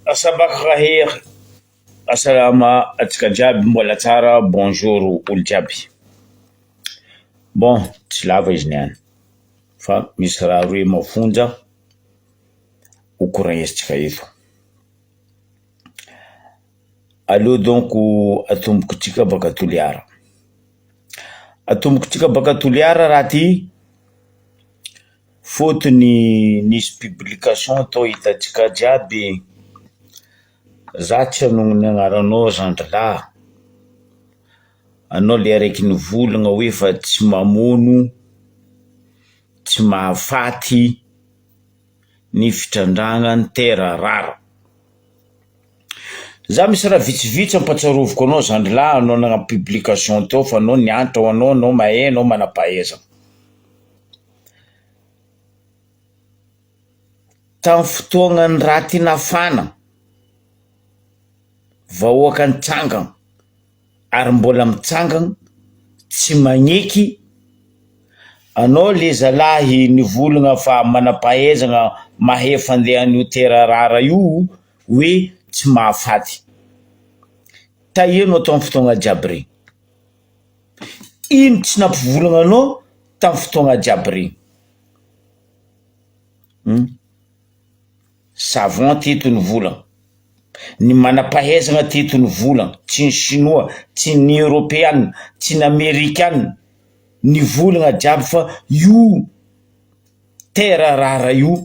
Asabakh khair, Asalama antsika jiaby mbola tsara, bonjour olo jiaby. Bon, tsy lava izy niany fa misy raha roe mafonja ho koragnezitsika eto. Aleo donko atomboko tsika baka Toliara. Atomboko tsika baka Toliara raha ty, Fotony nisy publication tao hitantsika jiaby e! Za tsy hanao ny agnaranao zandrilahy, anao le araiky nivolagna hoe fa tsy mamono, tsy mahafaty ny fitrandrahana ny terre rare. Za misy raha vitsivitsy ampatsiaroviko anao zandrilahy anao nanao publication teo fa anao niantra ho anao, anao mahay, anao manam-pahaizana. Tamin'ny fotoagnan'ny raty nafana, vahoaka nitsangana ary mbola mitsangana tsy magneky anao le zalahy nivolagna fa manam-pahaizana mahay fandeha an'io terarara io hoe tsy mahafaty, tahio anao tao amin'ny fotoagna jiaby reny. Iny tsy nampivorogna anao tamin'ny fotoagna jiaby regny um, ça va teto ny vola, ny manam-pahaizana teto ny vola, tsy ny sinoa, tsy ny eoropeana, tsy ny amerikana, ny volagna jiaby fa io terre rare io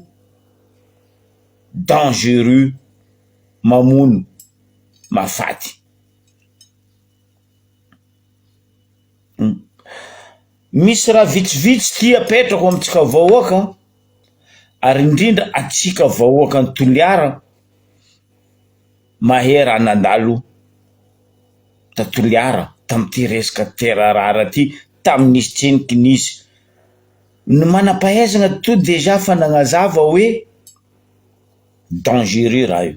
dangereux mamono mahafaty. Misy raha vitsivitsy ty apetrako amintsika vahoaka ary indrindra antsika vahoaka any Toliara mahera nandalo ta Toliara tamin'ity resaka terre rare ty tamin'izy tsiniky nisy, ny manam-pahaizana to dejà efa nagnazava hoe dangereux raha io.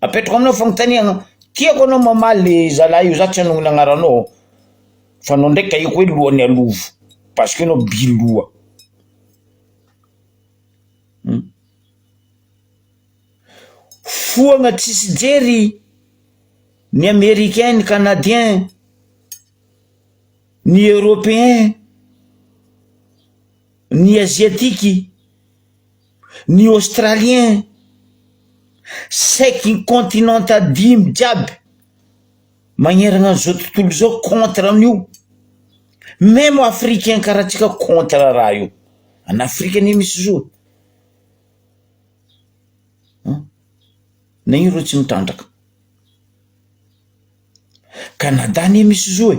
Apetrako aminao fanontaniana, tiako anao mamaly le zalahy io, za tsy hanonona agnaranao ô, fa anao ndray kahiko hoe lohan'ny alovo, parce que anao bi loha, foagna tsisy jery ny americain, ny canadien, ny europeen, ny asiatiky. ny Australien saiky ny continente dimy jiaby magneragna an'izao tontolo izao contre an'io, meme africain karaha antsika contre raha io, any Afrika anie misy zao e, an na ino reo tsy mitrandraka, Canada anie misy zao e.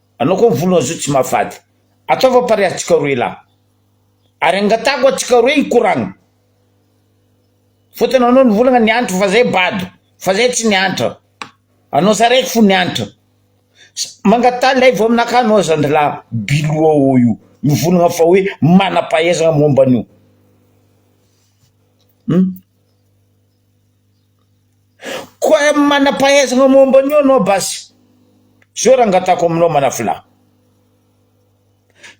Anao koa mivolona zo tsy mahafady. Ataova pare antsika roe lahy. Ary angatahako antsika roe hikoragna. Fotony anao nivolagna niantra fa zay bado. Fa zay tsy niantra. Anao za raiky fo niantra. Mangataha lay vao aminakahy anao zandrilahy biloha ô io mivolagna fa hoe manampahaizagna momba an'io. Hum. Koa manam-pahaizana momba an'io ianao basy. Zao raha angatahako aminao Manafolahy.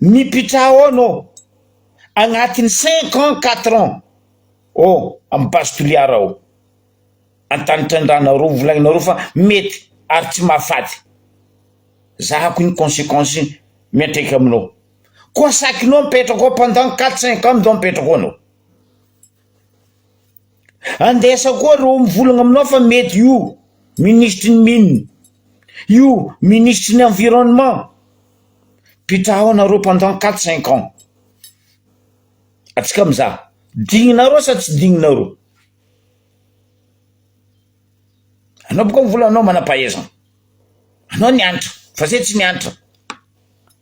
Mipitraha ao ianao agnatin'ny cinq ans, quatre ans ao amin'ny base Toliara ao. Antanitrandrahanareo, volagninareo fa mety ary tsy mahafaty. Zahako ny consequence miantraika aminao. Koa sakinao mipetraka ao pendant quatre cinq ans ndao mipetraka ao ianao. Andesa koa reo mivolagna aminao fa mety io minisitry ny mines, io minisitry ny environnement, mpitraho anareo pendant quatre cinq ans, atsika mizaha dignanareo sa tsy dignanareo, anao boka mivola anao manam-pahaizana, anao niantra fa zay tsy niantra.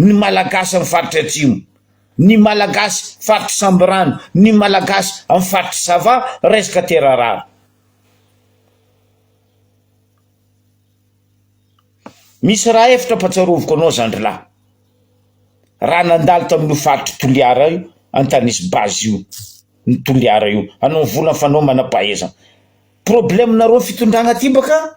ny Malagasy amin'ny faritry Atsimo, ny Malagasy faritry Sambirano, ny Malagasy amin'ny faritry Sava resaka terra rara. Misy raha efitra ampatsiaroviko anao zandrilahy. Raha nandalo tamin'io faritry Toliara io, Antanise base io, ny Toliara io, anao vola fanao manam-pahaizana. Problème-nareo fitondragna aty baka?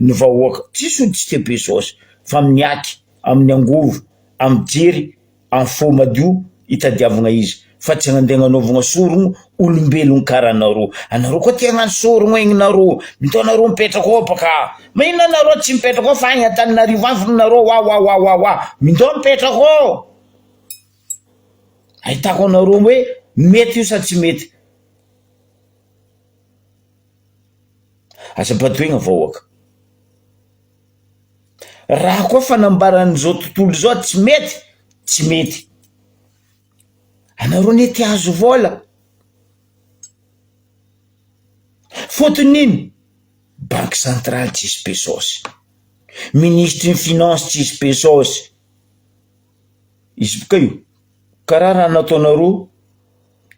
ny vahoaka tsy solontsika be saosy fa miaky amin'ny angovo amin'ny jery amin'ny fo madio itadiavagna izy fa tsy handeha hagnaovagna sorogno olombelogno kara anareo anareo koa te hagnano sorogno egny nareo mito anareo mipetraka ao baka magnino anareo tsy mipetraka ao fa agny antananarivo agny fôgna nareo wa wa wa wa wa mito mipetraka ao ahitako anareo hoe mety io sa tsy mety. Aza badoina vahoaka. Raha koa fanambaran'izao tontolo izao tsy mety, tsy mety. Anareo anie te azo vola. Fotony ino? Banque centrale tsisy pesos. Ministry ny finance tsisy pesos. Izy boka io. Karaha raha nataonareo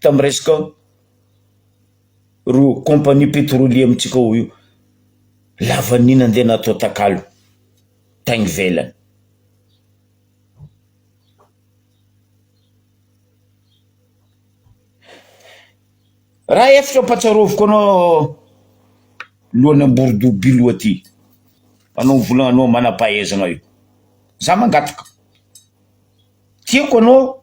tamin'ny resaka Ro compagnie petrolier amintsika ao io lavaniny andeha natao takalo tany ivelany. Raha efitra ampatsaroviko anao lohan'ny amborodoha bilo aty anao vola anao manam-pahaizana io za mangataka tiako anao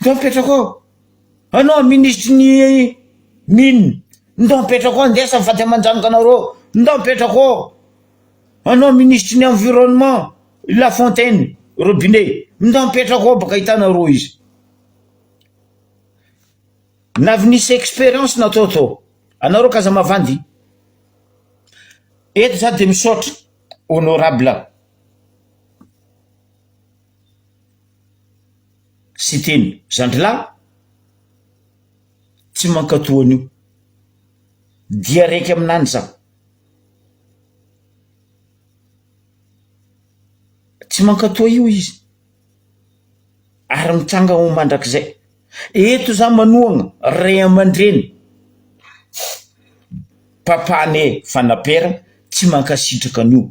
Ndao apetrako ao. Anao minisitry ny mines, ndao apetrako ao, ndesy faty aman-janaka anareo, ndao apetrako ao. Anao minisitry ny environnement, la fontaine, robinet, ndao apetrako ao baka hitanareo izy. Na avy nisy expérience natao tao, anareo k'aza mavandy. Eto za de misaotra honorable. Siteny, zandrilahy tsy mankato an'io, dia raiky aminany za, tsy mankato io izy ary mitranga ho mandrakizay, eto za manohana ray aman-dreny papa an'e Fanampera tsy mankasitraka an'io.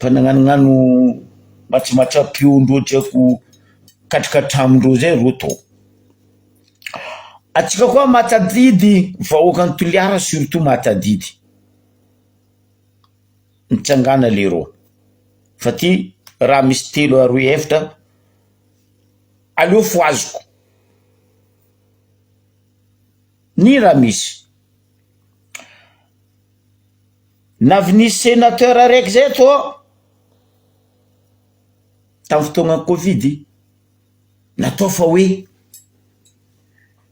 Fa nagnanognano matsimatsiam-peo ndreo diako katroka hatramin-dreo zay reo to. Antsika koa mahatadidy vahoakan'i Toliara surtout mahatadidy, mitsangana leroa fa ty raha misy telo aroe eftra aleo fohaziko, ny raha misy. Na avy nisy sénateur araiky zay eto an, tamin'ny fotoagnan'ny covid, natao fa hoe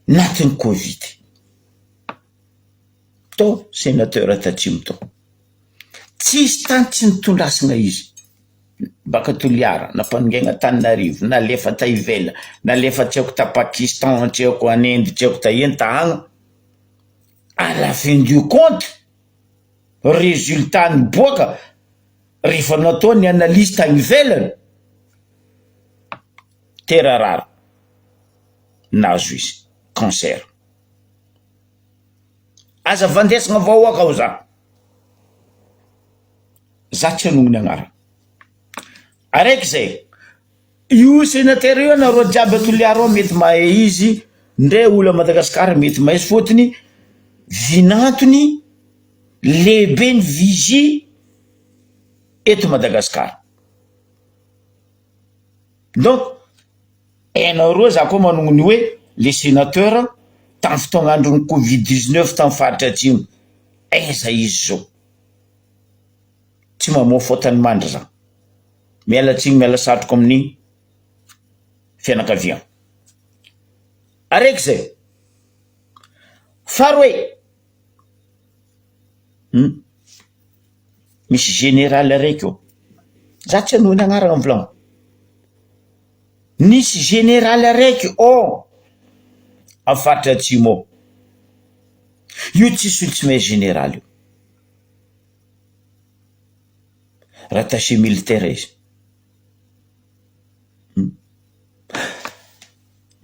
natin'ny covid, tao sénateur tatsimo tao, tsisy tany tsy nitondrasana izy, baka Toliara, na mpanongaina Antananarivo, nalefa ta ivela, nalefa tsy aiko ta Pakistan, tsy aiko any Inde, tsy aiko ta ino ta agny, à la fin du compte, résultat niboaka rehefa natao ny analyse tany ivelany tera rary nazo izy cancer aza vandesina vahoaka ao za za tsy anonony agnarana araiky zay Io sénateur io anareo jiaby à Toliara ao mety mahay izy ndray olo à Madagascar mety mahay fotony vinantony lehibe ny vigie eto Madagascar donc enao roa za koa manogno ny oe le sénateur tam fotoagna androny covid dix neuf tam faritra atsimo aiza izy zao. tsy mamoa faute ny mandry zan. Miala tsiny miala satriko amin'ny fianakavian. Araiky zay. Faharoe, humm, misy général araiky eo, za tsy hanohy ny agnarana mivolagna, nisy général araiky ao am faritra atsimo ao, io tsisy olo tsy mahay général io. rattaché militaire izy.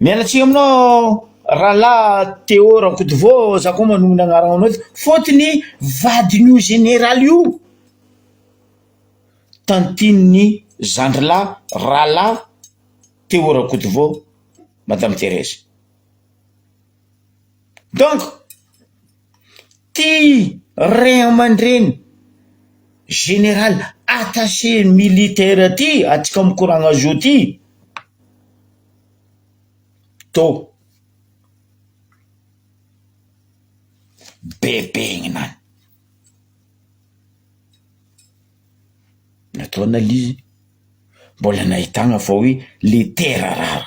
Miala tsiny aminao rahalahy Téo Rakotovao za koa manohy ny anaranao eto fôtony vadin'io zeneraly io, tantin'ny zandry lahy rahalahy Téo Rakotovao madame Therèse. Donc ity ray aman-dreny général attaché militaire ty atsika mikoragna zo ty to bebegnina any, nataona l'izy mbola nahitagna fa hoe le tera rara.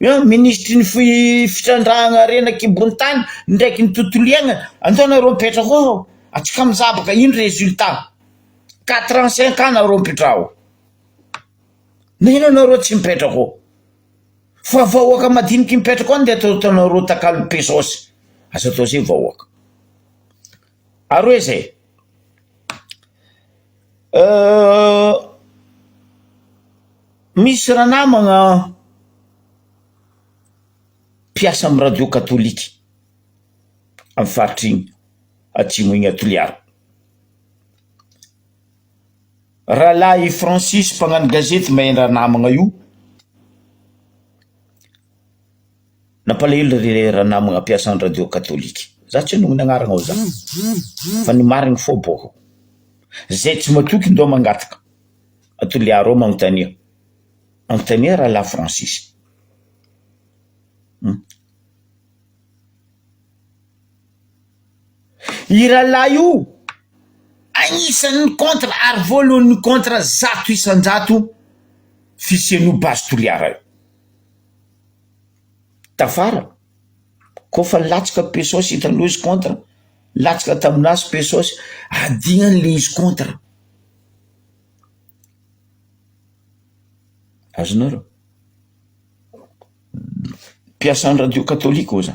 Minisitry ny fitrandrahana harena an-kibon'ny tany ndraiky ny tontolo iainana, andao nareo mipetraka ao hao, atsika mijabaka ino résultat, quatre ans cinq ans nareo mipetraha ao, nainona nareo tsy mipetraka ao, fa vahoaka madiniky mipetraka ao nde ataonareo takalo pesos, aza atao zay vahoaka. Ary hoe izay. Misy ranamagna mpiasa amin'ny radio katolika amin'ny faritra iny atsimo iny à Toliara. Rahalahy Francis mpagnano gazety mahay ny ranamagna io. Nampalahelo ry ranamagna mpiasa ny radio katolika. Za tsy hanonona agnarana ao za fa ny marigny fô bôko. Zay tsy matoky ndao mangataka a Toliara ao magnontania. Magnontania rahalahy Francis. Hum. I rahalahy io agnisan'ny contre ary voalohan'ny contre zato isan-jato fisian'io base Toliara io. Tafara, koa efa nilatsaka Pesosy hitanao izy contre, nilatsaka tamin'azy Pesosy hadihany le izy contre, azonareo? Mpiasan'ny radio katolika hoy za.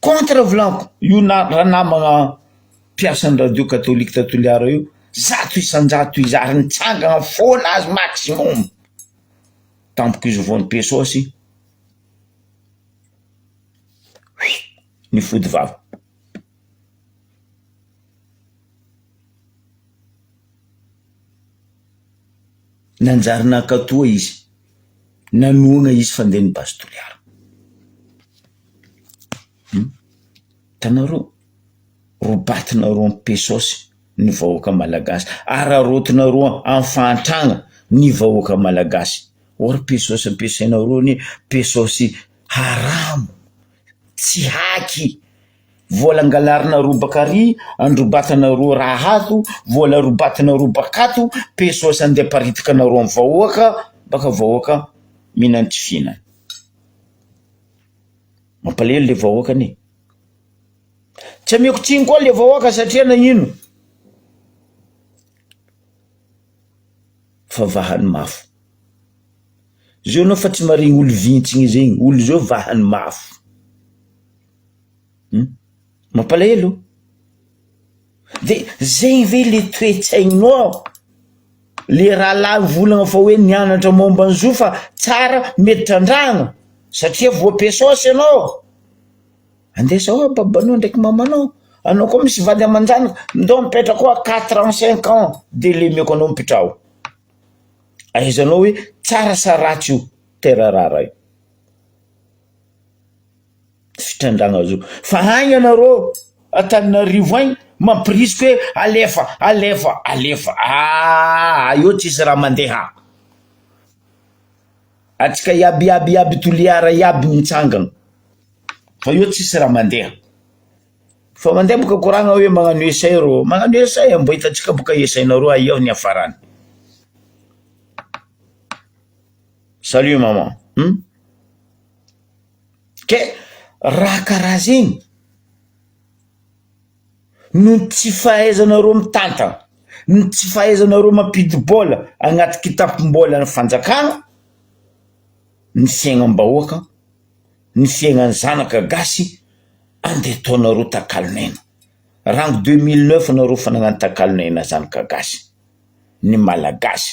Contre volako io na- ranamagna mpiasan'ny radio katolika ta Toliara io zato isan-jato izy ary nitsangana foana azy maximum tamiko izy vao nipesaosy nifody vava. Nanjary nankatoa izy. nanohana izy fandeha ny base Toliara. Hum. Hitanareo, robatinareo am pesos ny vahoaka malagasy, araraotinareo am fahantragna ny vahoaka malagasy. Or pesos ampiasainareo anie pesos haramo, tsy haky. Vola angalarina robaka ary androbatana roa raha azo, vola robatina robaka ato, pesos andeha aparitaka anareo amin'ny vahoaka, baka vahoaka mihinana tsy fihinana. Mampalahelo le vahoaka anie. Tsy ameko tsiny koa le vahoaka satria nagnino? Fa vahany mafy. Zao anao fa tsy maharegny olo vintsiny zegny, olo zao vahany mafy. Mampalahelo oh! De zay ve le toe-tsaininao, le rahalahy mivolagna fa hoe nianatra momba ny zo fa tsara mety trandrahana satria voapesos ianao, andeha zao ah babanao ndraiky mamanao, anao koa misy vady aman-janaka, ndao mipetraka ao quatre ans cinq ans de lemeko anao mipitraho, ahaizanao hoe tsara sa ratsy io terra rara io. fitrandragna zao fa agny anareo Antananarivo agny mampirisika hoe alefa alefa alefa aa eo tsisy raha mandeha antsika iaby iaby iaby toliara iaby mitsangana fa eo tsisy raha mandeha fa mandeha boka koragna hoe magnano essai rô magnano essai mbô hitantsika boka essai nareo aia ny afarany salut maman. Kay raha karaha zegny noho ny tsy fahaizanareo mitantana, ny tsy fahaizanareo mampidi-bola agnaty kitapom-bolan'ny fanjakana ny fiaignam-bahoaka, ny fiaignan'ny zanaka gasy andeha ataonareo takalon'aina, rango deux mille neuf nareo fa nagnano takalon'aina zanaka gasy, ny malagasy.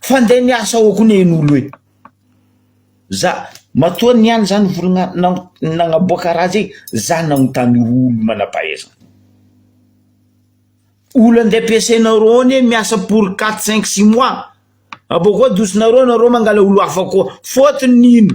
Fande miasa ao koa ne nolo e! Za matoa ny any zany volona nagnaboaka raha zay za nagnontany olo manampahaizana olo ande ampiasainareo ao ne miasa pour quatre cinq six mois abôkeo adosinareo nareo mangala olo hafa koa fôtony ino?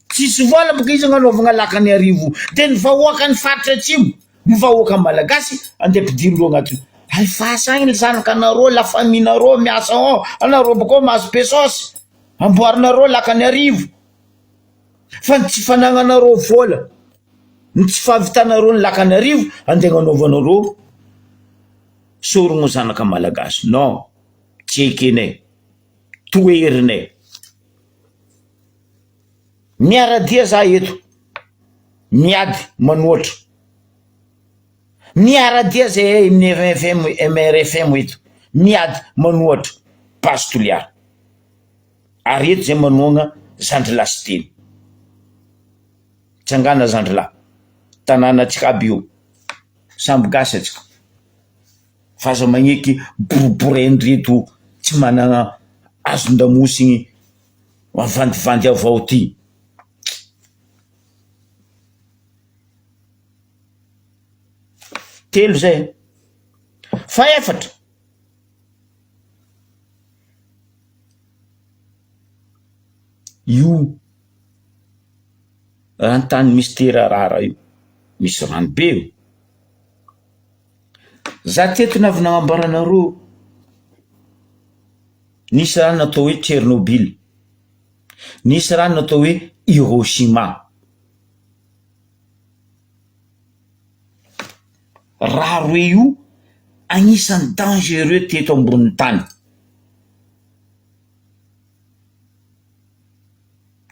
Tsisy vola boka izy agnanaovagna laka ny arivo de ny vahoaka ny faritra atsimo ny vahoaka malagasy andeha ampidiro ndreo agnaty hay fasa agny ny zanaka nareo la famille nareo miasa ao anareo bakao mahazo pesos amboarinareo laka ny arivo fa ny tsy fanagnanareo vola ny tsy fahavitanareo ny laka ny arivo ande agnanaovanareo sorogno zanaka malagasy non tsy ekenay toherinay. Miara-dia za eto, miady manoatra. Miara-dia zahay amin'ny MFM, MRFM eto, miady manoatra, Base Toliara. Ary eto zay manohagna zandrilahy Siteny. Tsangana zandrilahy, tanàna antsika aby io, samby gasy antsika, fa aza magneky boribory an'ireto tsy managna hazon-damosigny. Mavandivandy ao vao ty. Telo zay an. Fahefatra. Io raha ny tany Mister Rara io misy rano be io. Za teto ny avy nagnambara anareo nisy raha natao hoe Tchernobyl, nisy raha natao hoe Hiroshima. Raha roe io agnisan'ny dangereux teto ambonin'ny tany.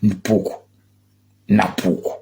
Ny poko na poko.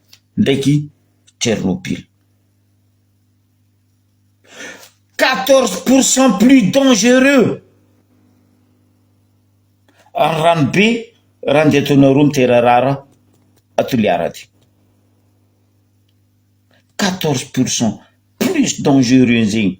ndraiky Tchernobyl. Quatorze pour cent plus dangereux ary ranobe raha ndeha taona roa miterarara à Toliara aty. Quatorze pour cent plus dangereux zegny.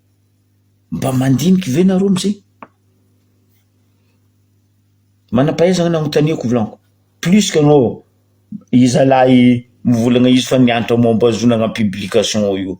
Mba mandinika ve nareo am'zay? Manam-pahaizana ny anontaniako volaniko, plus que anao iza lahy mivolagna izy fa miantra momba ny zonagna publication io.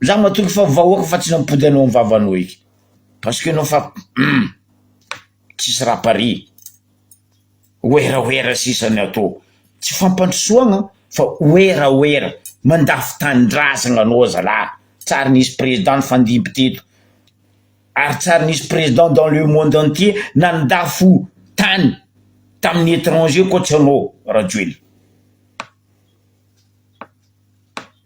Za matoky fa vahoaka fa tsy nampody anao am vavanao eky parce que anao fa humm tsisy raha pare werawera sisa ny atao tsy fampandrosoagna fa werawera mandafo tanindrazagna anao zala tsary nisy président nifandimby teto ary tsary nisy président dans le monde entier nandafo tany tamin'ny étranger koa tsy anao rajoelina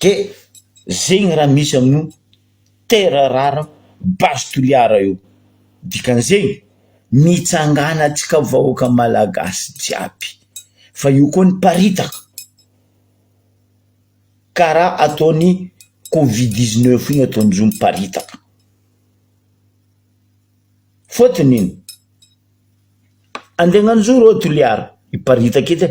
de zegny raha misy amin'io terre rare base toliara io, dikan'izegny mitsangana antsika vahoaka malagasy jiaby fa io koa niparitaka karaha ataon'ny covid dix neuf io ataon'izy io miparitaka, fôtony ino, andeha agnano zo reo toliara hiparitaka edy e.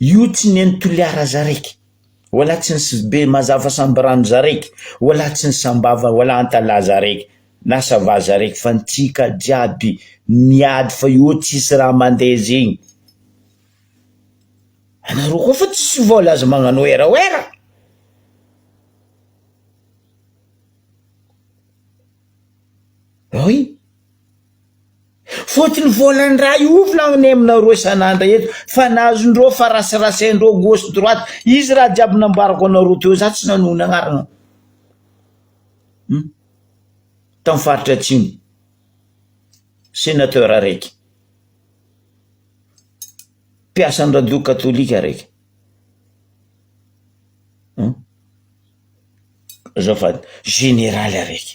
Io tsy neny Toliara zaraiky. Oala tsy ny sbe mazava sambirano zaraiky. Oala tsy ny sambava oala antalaha zaraiky. Na sava zaraiky fa ny tsika jiaby miady fa io tsisy raha mandeha zegny. Anareo koa fa tsisy vola aza magnano werawera. Oy. Fotony vola ndray ofona anie aminareo isan'andra eto fa na azondreo fa rasirasaindreo gauche droite izy raha jiaby nambarako anareo teo za tsy nanohy ny agnarana hum tam faritra atsimo senateur araiky mpiasa ny radio katolika araiky hum azafady generaly araiky.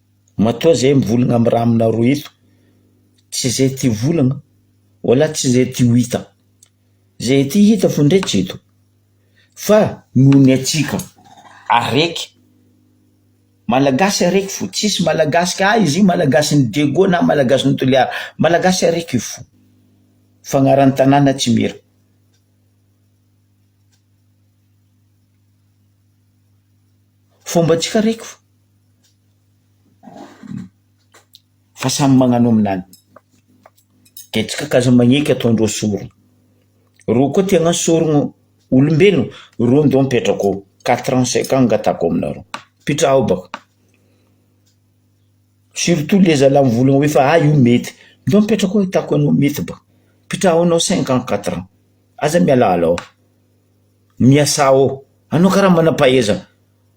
Matoa zay mivolagna amin'ny raha aminareo eto, tsy zay ty volagna, wala tsy zay ty ho hita, zay ty hita fo ndray tsy eto, fa noho ny antsika araiky, malagasy araiky fo, tsisy malagasy ka izy io malagasin'i Diego na malagasin'i Toliara, malagasy araiky io fo, fa agnaran'ny tanàna tsimihira. Fombantsika araiky fo. Fa samy magnano aminany, kajy kakazo magneky ataondreo sorona, reo koa te hagnasorogno olombelogno, reo ndao mipetraka ao, quatre ans cinq ans angatahako aminareo, mipitraha ao baka, surtout le zalah mivolagna hoe fa ah io mety, ndao mipetraka ao ahitako anao mety baka, mipitraha ao anao cinq ans quatre ans, aza mialaala ao, miasà ao, anao karaha manam-pahaizana.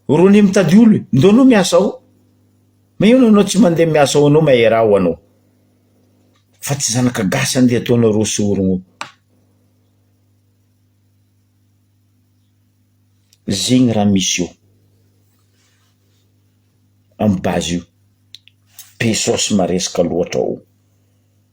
Rony mitady olo e. Ndao anao miasa ao. Mañino anao tsy mandeha miasa ao anao maera ao anao. Fa tsy zanaka gasy andeha ataonareo sorogno io. Zegny raha misy eo am base io. Be saosy maresaka loatra oo.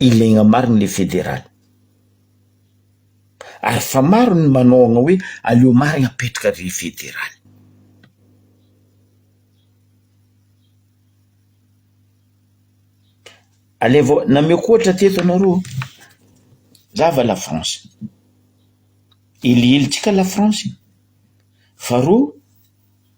Ilaigna marigny le federaly. Ary fa maro ny manaogna hoe aleo marigny apetraka le federaly. Alaivo, nameko ohatra teto anao roa, za avy a la France, elihelitsika la France e, faharoa.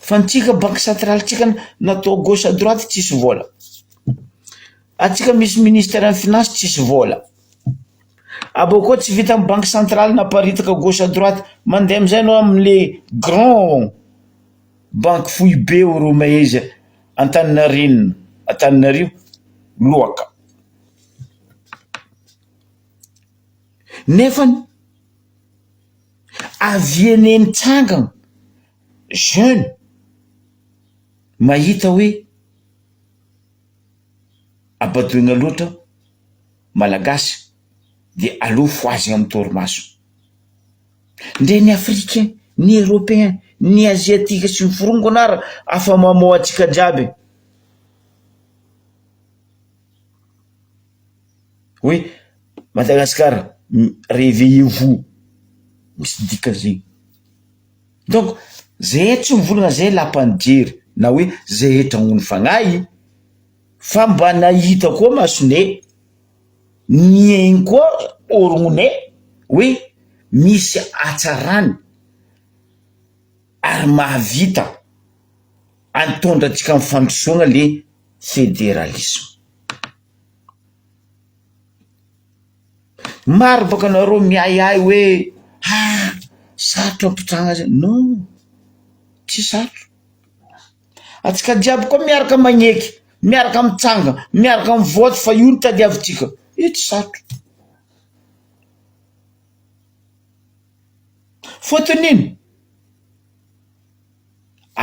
Fa ny tsika banque centrale tsika na atao gauche à droite tsisy vola. Atsika misy ministère ny finance tsisy vola. Abao koa tsy vita ny banque centrale naparitaka gauche à droite mandeha amizay anao amle grand banque foibe ao romaiza antaninarenina antaninario loaka. Nefany. avy anie mitsangana jeune mahita hoe abadoina loatra malagasy de aleo fohazina amin'ny torimaso, ndre ny africain, ny europeen, ny asiatique sy ny forongony ary afa mamoa antsika jiaby. Hoe Madagascar reveillez vous misy dikany zegny. Donc zay tsy mivolagna zay lapan'ny jery na hoe zay hetragnony fagnahy fa mba nahita koa masonay, nihaino koa orognonay hoe misy hatsarany ary mahavita an'tondra antsika am'fandrosoagna le federalisme. Maro bôka anareo miahiahy hoe ha sarotra mitranga zay, non tsy sarotra, antsika jiaby koa miaraka magneky, miaraka mitsanga, miaraka mivoatra fa io no tadiavintsika, io tsy sarotra, fôtony ino,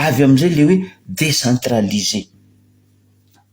avy amizay le hoe decentraliser.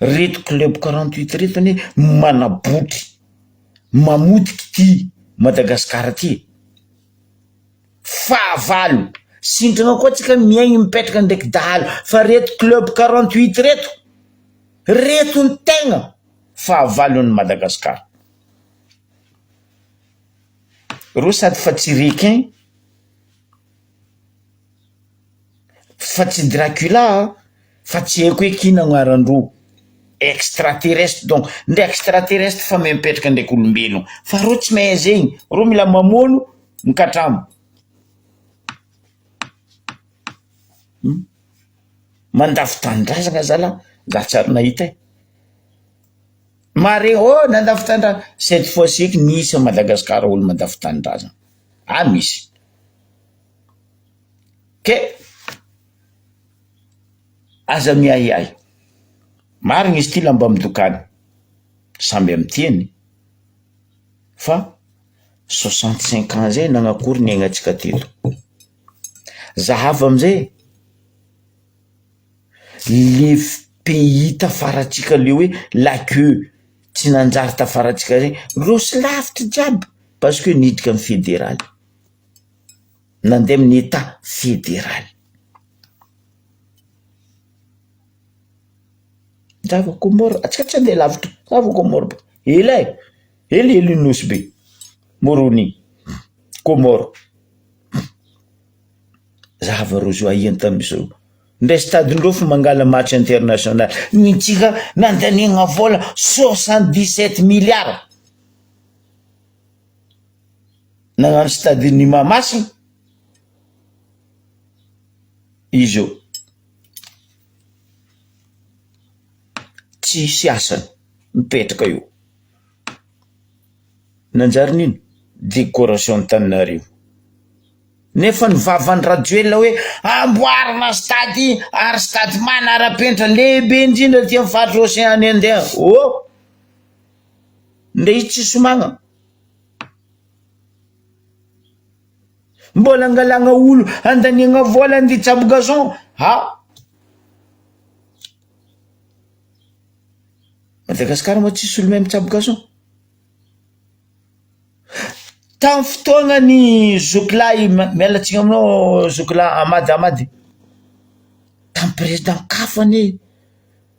reto club quarante huit reto anie manabotry mamotika ity madagasikara ty e fahavalo sindrana koa tsika mihaino mipetraka ndraiky dahalo fa reto club quarante huit reto reto ny tegna fahavalon'ny madagasikara reo sady fa tsy requin fa tsy Dracula a, fa tsy haiko hoe k'ino agnaran-droa, extraterrestre donc ndre extraterrestre fa me- mipetraka ndraiky olombelogno, fa reo tsy mahay zegny, reo mila mamono mikatramo. Mandafo tanindrazagna zalah za tsy ary nahita e, mare ô nandafo tanindrazagna, cette fois ci eky misy a Madagasikara olo mandafo tanindrazagna, any misy. Kay aza miahiahy, marigny izy ty lamba midokany, samby amy tiany fa soixante cinq ans zay nanakory ny aignantsika teto, za hafa amizay le f- pays tafaratsika le hoe la queue tsy nanjary tafaratsika zay, roso lavitra jiaby parce que niditra amy federaly. Nandeha amin'ny Etat federaly. Rava Comore, ah, tsy tsy handeha lavitra, Rava Comore, ela e, ela ela io nosy be, Moroni, Comore. Rava roa zao ahiany tamin'izao. Ndray stadin-dreo fa mangala match international. Ny antsika nandaniagna vola soixante dix sept milliards. nagnano stade ny Mahamasina izy eo tsisy asany mipetraka eo nanjary nino decoration Antananarivo nefa ny vavan'ny Rajoelina hoe amboarina stade ary stade manarapenitra lehibe indrindra aty amin'ny faritra Océan Indien oh. Ndry tsy somagna. Mbola angalagna olo andaniagna vola ndry tsabo gazon ha. Madagasikara moa tsisy olo mahay mitsabo gazon. Tam fotoagna ny zokilahy miala tsiny aminao zokilahy Amady Amady tam president kafo anie.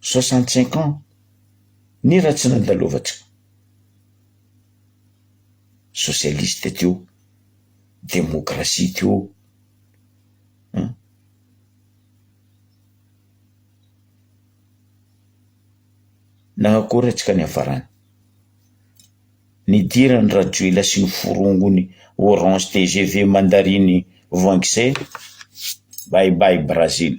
soixante cinq ans ny ratsy nandalovantsika socialiste teo, demokrasia teo an. Na akory atsika niafarany, nidiran'i rajoelina sy ny forongony orange tgv mandarine voangisé, bye bye Brazil.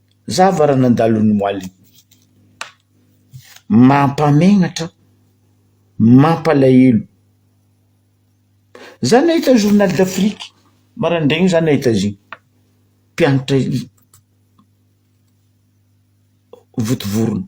Zava raha nandalo ny moaly. Mampamegnatra, mampalahelo. Za nahita journal d'afrique maraindraigny za nahita azy io, mpianatra i votovorona.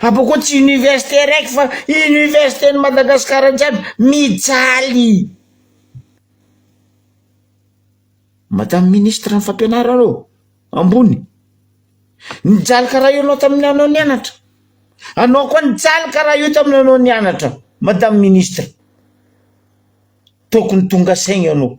Apo koa tsy université raiky fa université ny Madagascar jiaby mijaly. Madame ministre ny fampianarana ô, ambony, nijaly karaha io anao tamin'ny anao nianatra, anao koa nijaly karaha io tamin'ny anao nianatra madame ministre, tokony tonga saina ianao.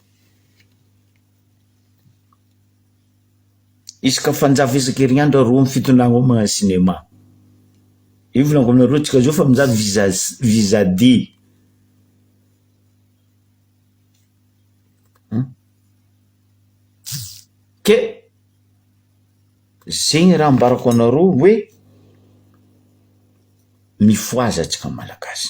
Isaka Fanjava Isaka Herignandro aroa amby fito nahy ao magnano cinéma. Io volanako aminareo tsika zao fa mizaha visa visa D. Ke zegny raha ambarako anareo hoe mifohaza tsika malagasy.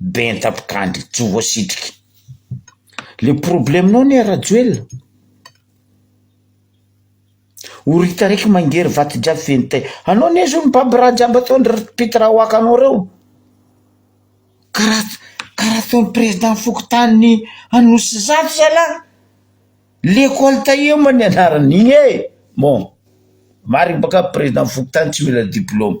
Benta mpikandry tsy voasitrika. Le problemenao anie Rajoelina, oritaraiky mangery vato jiaby feno tay. Anao anie zao mibaby raha jiaby ataondry ry mpita raha waka anao reo. Karaha karaha ataon'ny président fokontany Anosizato zalah. L'école Tahioma nianarany igny e. Bon, marigny bôka président fokontany tsy mila diplôme.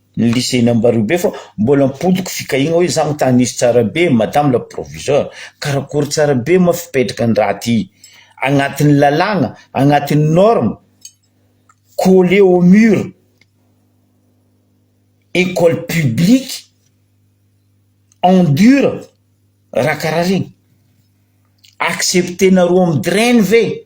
ny lycée n'Ambaribe fa mbola ampodiko fikahiagna hoe za mitanisy tsara be madame la proviseur karakory tsara be ma fipetraka ny raha ty agnatin'ny lalàgna agnatin'ny norme coller au mur école publique en dur raha karaha regny accepter-nareo amin'ny drain ve?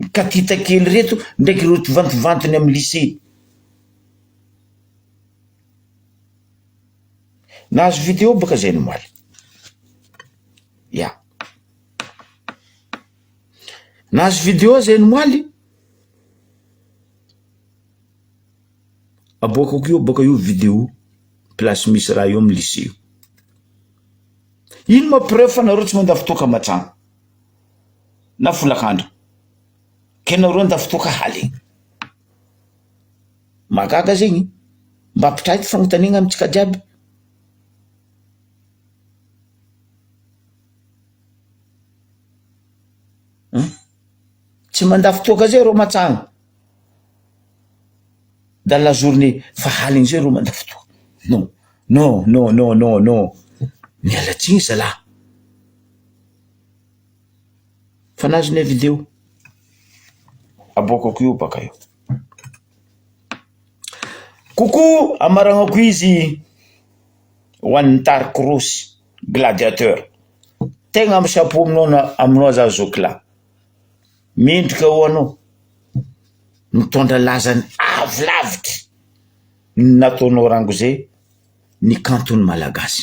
Ny katita kely ireto ndraiky ireo tivanttivantiny amin'ny lycée. Nahazo video baka zay omaly. Ya. Nahazo video zay omaly. Aboakako io baka io video place misy raha io amin'ny lycée io. Ino ma preuve fa nareo tsy mandà fotoa kamatrano. na folakandro ka ianao reo ndao fotoa ka hale mahagaga zegny mba ampitahay ty fagnotaniagna amintsika jiaby. Tsy mandà fotoa ka zay reo mantsagna, dans la journée fa haligny zay reo mandà fotoa, non non non non non non miala tsiny zalah. Fa nahazo ny avis-ndreo. Aboakako io baka io. Coucou amaragnako izy ho an'ny Dark Rose gladiateur, tegna am chapeau aminao na aminao za zoky lahy, mendrika ho anao, mitondra lazany avy lavitra ny nataonao rango zay ny kanton'ny malagasy.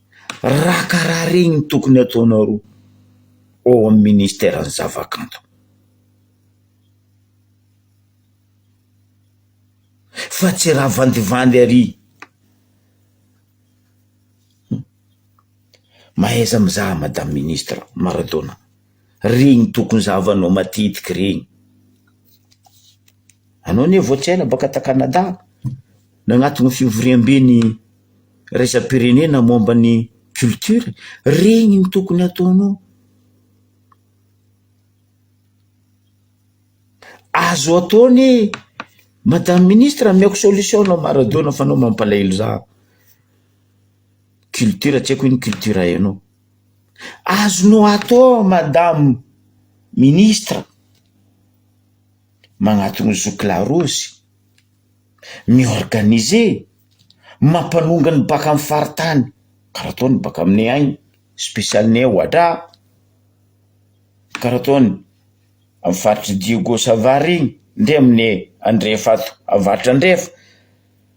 Raha karaha regny no tokony ataonareo ao amin'ny ministeran'ny zavakanto, fa tsy raha vandivandy ary, mahaiza mizaha madame ministra Maradona. regny tokony zahavanao matetiky regny. Anao anie vao tsy ela baka ta Canada, nagnaton'ny fivoriamben'ny iraisam-pirenena momba ny culture, regny no tokony ataonao. Azo atao anie, madame ministra ameko solution anao Maradona fa anao mampalahelo za, culture tsy haiko hoe ino culture hainao. Azonao atao madame ministre, magnatona zoky la rose, mi-organiser, mampanonga ny baka amin'ny faritany karaha ataony baka aminay agny, special ny ao Ohatra, karaha ataony amin'ny faritry Diego Savary igny ndray aminay andrefa ato, avaratra andrefa.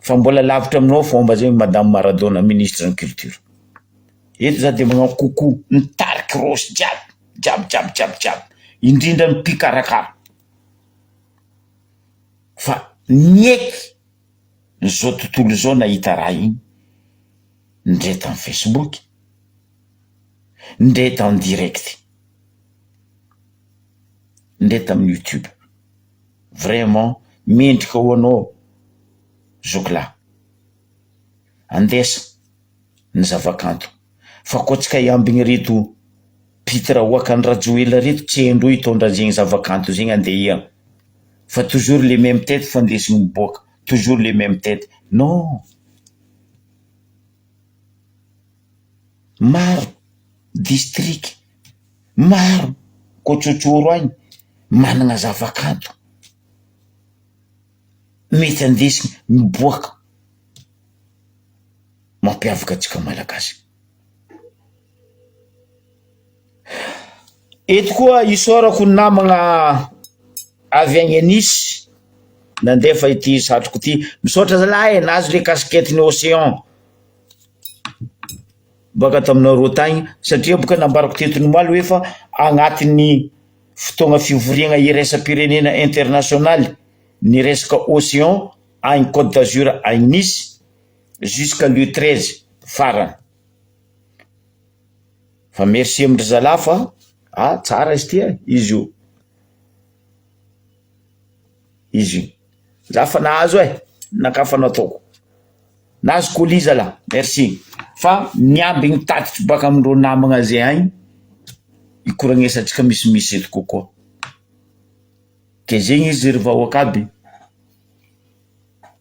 Fa mbola lavitra aminao fomba zay madame Maradona ministre ny culture. Eto za de magnao coucou ny tarik'i Rossy jiaby, jiaby jiaby jiaby jiaby, indrindra ny mpikarakara fa nieky ny zao tontolo zao nahita raha iny, ndre tam facebook, ndre eto en direct, ndre tam youtube. vraiment mendrika ho anao zoky lahy. Andesa ny zavakanto fa koa tsy kay ambigny reto pitre oakan'i Rajoelina reto tsy hain-dreo hitondra an'zegny zavakanto zegny andeha hihira fa toujours les meme tete fa ndesigny miboaka toujours les meme tete non maro district maro kotsotsory any managna zavakanto mety andesiny miboaka mampiavaka antsika malagasy. Eto koa isaorako ny namagna avy agny anisy nandefa ity satroko ity, misaotra zalahy e nahazo le casquette ny ocean. baka taminareo tagny satria boka nambarako teto nomaly hoe fa agnatin'ny fotoagna fivoriagna iraisam-pirenena internasionaly ny resaka ocean agny Côte d'Azur agny Nice jusqu'à le treize farany fa merci amin-dry zalahy fa ah tsara izy ty eh izy io. izy io. Za fa nahazo e, nankafanao ataoko. Nahazo colis zalah, merci. Fa miambigny tatitry baka amindreo namagna ze agny hikoragnesantsika misimisy eto kokoa. Ke zegny izy ry vahoaka aby.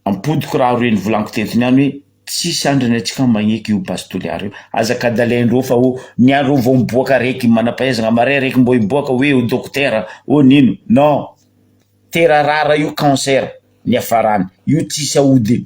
Ampodiko raha reny volaniko teto niany hoe tsisy andrany atsika magneky io base toliara io aza kadalay ndreo fa o niany reo vao miboaka raiky manampahaizana maray raiky mbô hiboaka hoe ho dokotera ô nino non tera rara io cancer niafarany io tsisy aodiny